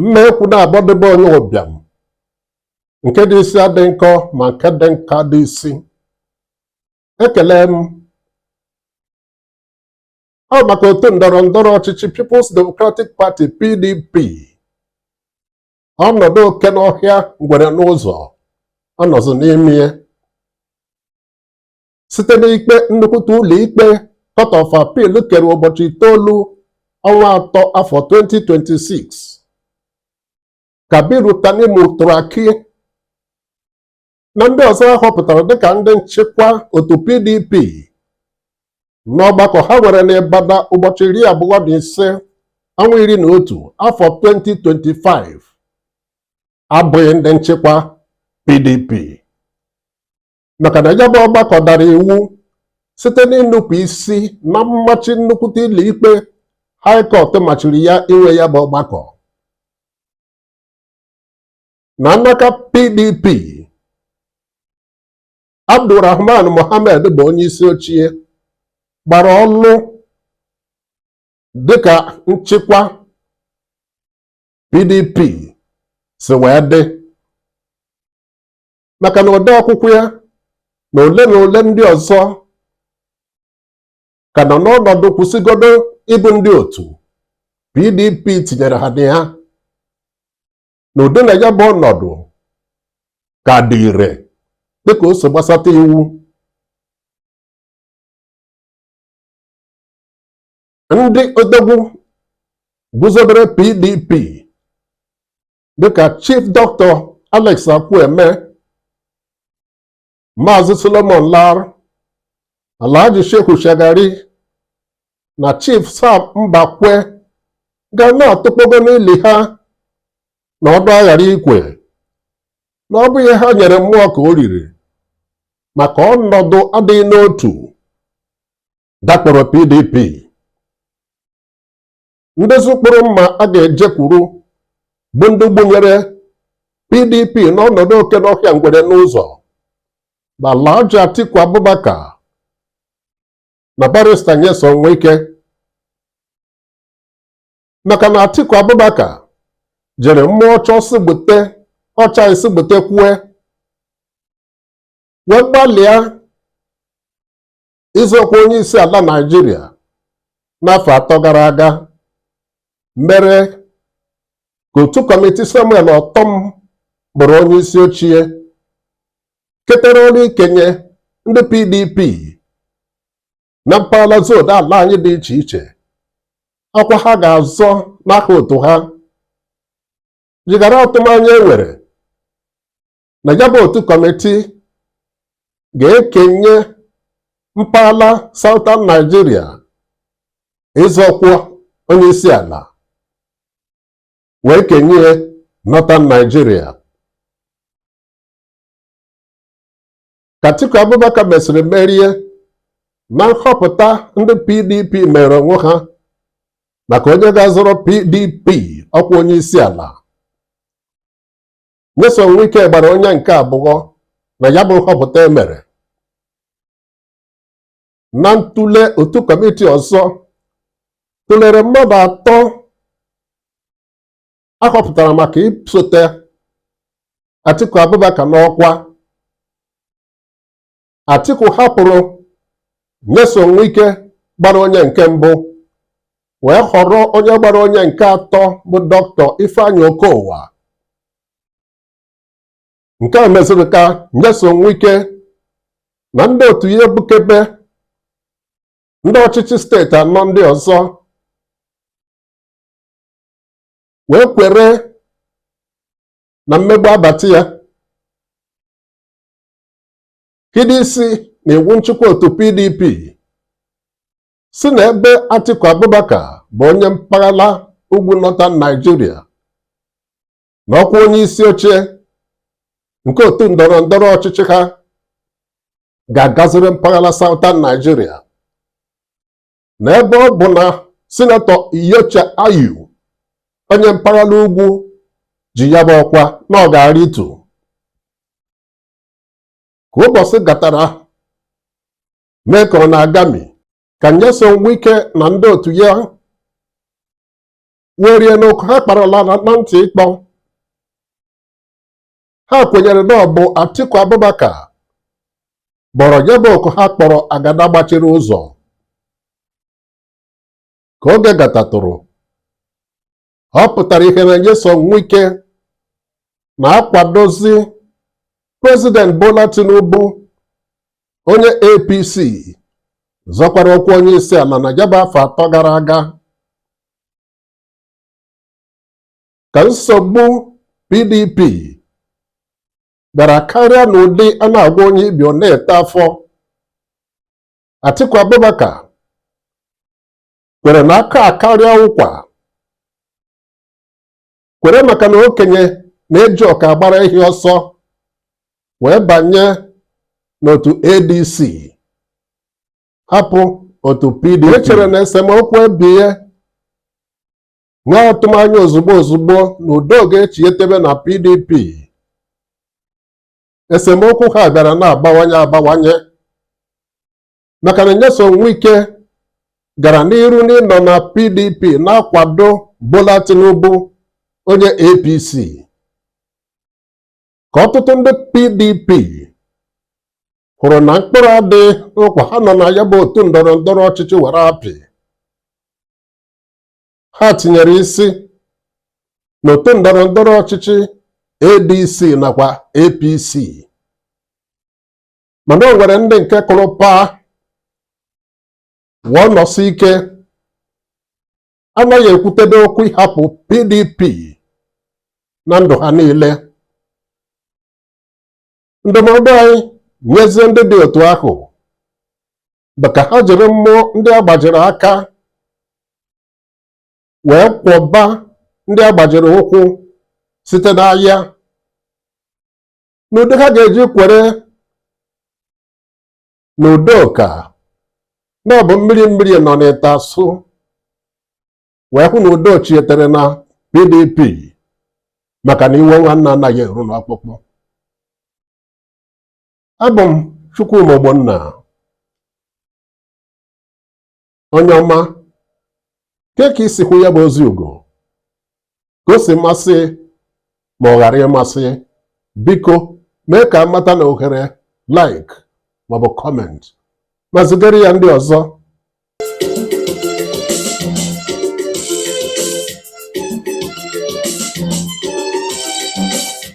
mma ekwu naabọ dị be onye ụbịam nke dị isi adị nkọ ma nke dị nkọ adị isi ekelee m ọ maka otu ndọrọ ndọrọ ọchịchị People's Democratic Party PDP ọnọdụ oke n'ọhịa ngwere n'ụzọ ọ nọzụ n'ime ya site n'ikpe nnukwute ụlọ ikpe Court of Appeal kere ụbọchị itoolu ọnwa atọ afọ 2026 Kabiru Tanimu Turaki na ndị ọzọ a họpụtara dịka ndị nchịkwa otu PDP n'ọgbakọ ha nwere n'Ibadan ụbọchị iri abụọ na ise ọnwa iri na otu afọ 2025 abụghị ndị nchịkwa PDP maka na ya bụ ọgbakọ dara iwu site n'inupụ isi na mmachi nnukwute ụlọ ikpe High Court machiri ya inwe ya bụ ọgbakọ na n'aka PDP Abdulrahman Mohammed bụ onye isi oche gbara ọlụ dịka nchịkwa PDP si wee dị maka na ode akwụkwọ ya na ole na ole ndị ọzọ ka nọ n'ọnọdụ kwụsịgodo ịbụ ndị otu PDP tinyere ha na ya n'ụdị na ya bụ ọnọdụ ka dị ire dịka o si gbasata iwu ndị odogwu guzobere PDP dịka Chief Dr. Alex Ekwueme Maazị Solomon Lar Alhaji Shehu Shagari na Chief Sam Mbakwe ga na-atụkpogo n'ili ha na ọdụ aghara ikwe na ọ bụ ihe ha nyere mmụọ ka o riri maka ọnọdụ adịghị n'otu dakporo PDP ndị ụzụ kpụrụ mma a ga-ejekwuru bụ ndị gbunyere PDP n'ọnọdụ oke n'ọhịa ngwere n'ụzọ bụ Alhaji Atiku Abubakar na Barrister Nyesom Wike maka na Atiku Abubakar jiri mmụọ ọ chaa sị gbute ọ chaghị sị gbutekwue wee gbalịa ịzọ ọkwa onye isi ala Naịjirịa n'afọ atọ gara aga mere ka otu kọmiti Samuel Ortom bụrụ onye isi oche ketere ọrụ ikenye ndị PDP na mpaghara zone ala anyị dị iche iche ọkwa ha ga-azọ n'aha otu ha jigara atụmanya e nwere na ya bụ otu kọmitii ga-ekenye mpaghara Southern Nigeria ịzọ ọkwa onye isi ala wee kenye Northern Nigeria Atiku Abubakar mesịrị merie na nhọpụta ndị PDP mere onwe ha maka onye ga-azọrọ PDP ọkwa onye isi ala Nyesom Wike gbara onye nke abụọ na ya bụ nhọpụta e mere na ntụle otu kọmiti ọzọ tụlere mmadụ atọ a họpụtara maka isote Atiku Abubakar n'ọkwa Atiku hapụrụ Nyesom Wike gbara onye nke mbụ wee họrọ onye gbara onye nke atọ bụ Dọktọ Ifeanyi Okowa nke a meziri ka Nyesom Wike na ndị otu ya ebukebe ndị ọchịchị steeti anọ ndị ọzọ wee kwere na mmegbu abata ya hido isi na iwu nchịkwa otu PDP sị na ebe Atiku Abubakar bụ onye mpaghara ugwu Northern Nigeria na ọkwa onye isi oche nke otu ndọrọ ndọrọ ọchịchị ha ga-agaziri mpaghara Southern Nigeria na ebe ọ bụ na sinetọ Iyorchia Ayu onye mpaghara ugwu ji ya bụ ọkwa na ọ ga-arịtu ka ụbọchị gatara mee ka ọ na-agami ka Nyesom Wike na ndị otu ya werie n'okwu ha kparala na ntị ịkpọ ha kwenyere na ọ bụ Atiku Abubakar kpọrọ ya bụ oku ha kpọrọ agada gbachiri ụzọ ka oge gatatụrụ ọ pụtara ihe na Nyesom Wike na-akwadozi Prezident Bola Tinubu onye APC zọkwara ọkwa onye isi ala na ya bụ afọ atọ gara aga ka nsogbu PDP bịara karịa n'ụdị a na-agwọ onye ibi ọ na-eto afọ Atiku Abubakar kwere na aka akarịa ụkwa kwere maka na okenye na-eji ụkọ agbara ehi ọsọ wee banye n'otu ADC hapụ otu PDP e chere na esemokwu ebie nwee atụmanya ozugbo ozugbo na udo ga-echietebe na PDP esemokwu ha bịara na-abawanye abawanye maka na Nyesom Wike gara n'iru n'ịnọ na PDP na-akwado Bola Tinubu onye APC ka ọtụtụ ndị PDP hụrụ na mkpụrụ adịghị ụkwa ha nọ na ya bụ otu ndọrọ ndọrọ ọchịchị were apị ha tinyere isi n'otu ndọrọ ndọrọ ọchịchị ADC nakwa APC mana o nwere ndị nke kụrụ paa wụọ nọsie ike anaghị ekwutebe okwu ịhapụ PDP na ndụ ha niile ndụmọdụ anyị nyezie ndị dị otu ahụ bụ ka ha jiri mmụọ ndị agbajiri aka wee kwọba ndị agbajiri ụkwụ site n'ahịa n'ụdị ha ga-eji kwere na udo ka na ọ bụ mmiri mmiri nọ n'ite asụ wee hụ na udo chietere na pdp maka na iwe nwanne anaghị eru n'ọkpụkpụ abụ m chukwuma ogbonna onye ọma kee ka i si hụ ya bụ ozi ugo gosi masị gị ma ọ ghara ịmasị gị biko mee ka m mata na ohere like maọbụ comment ma zigara ya ndị ọzọ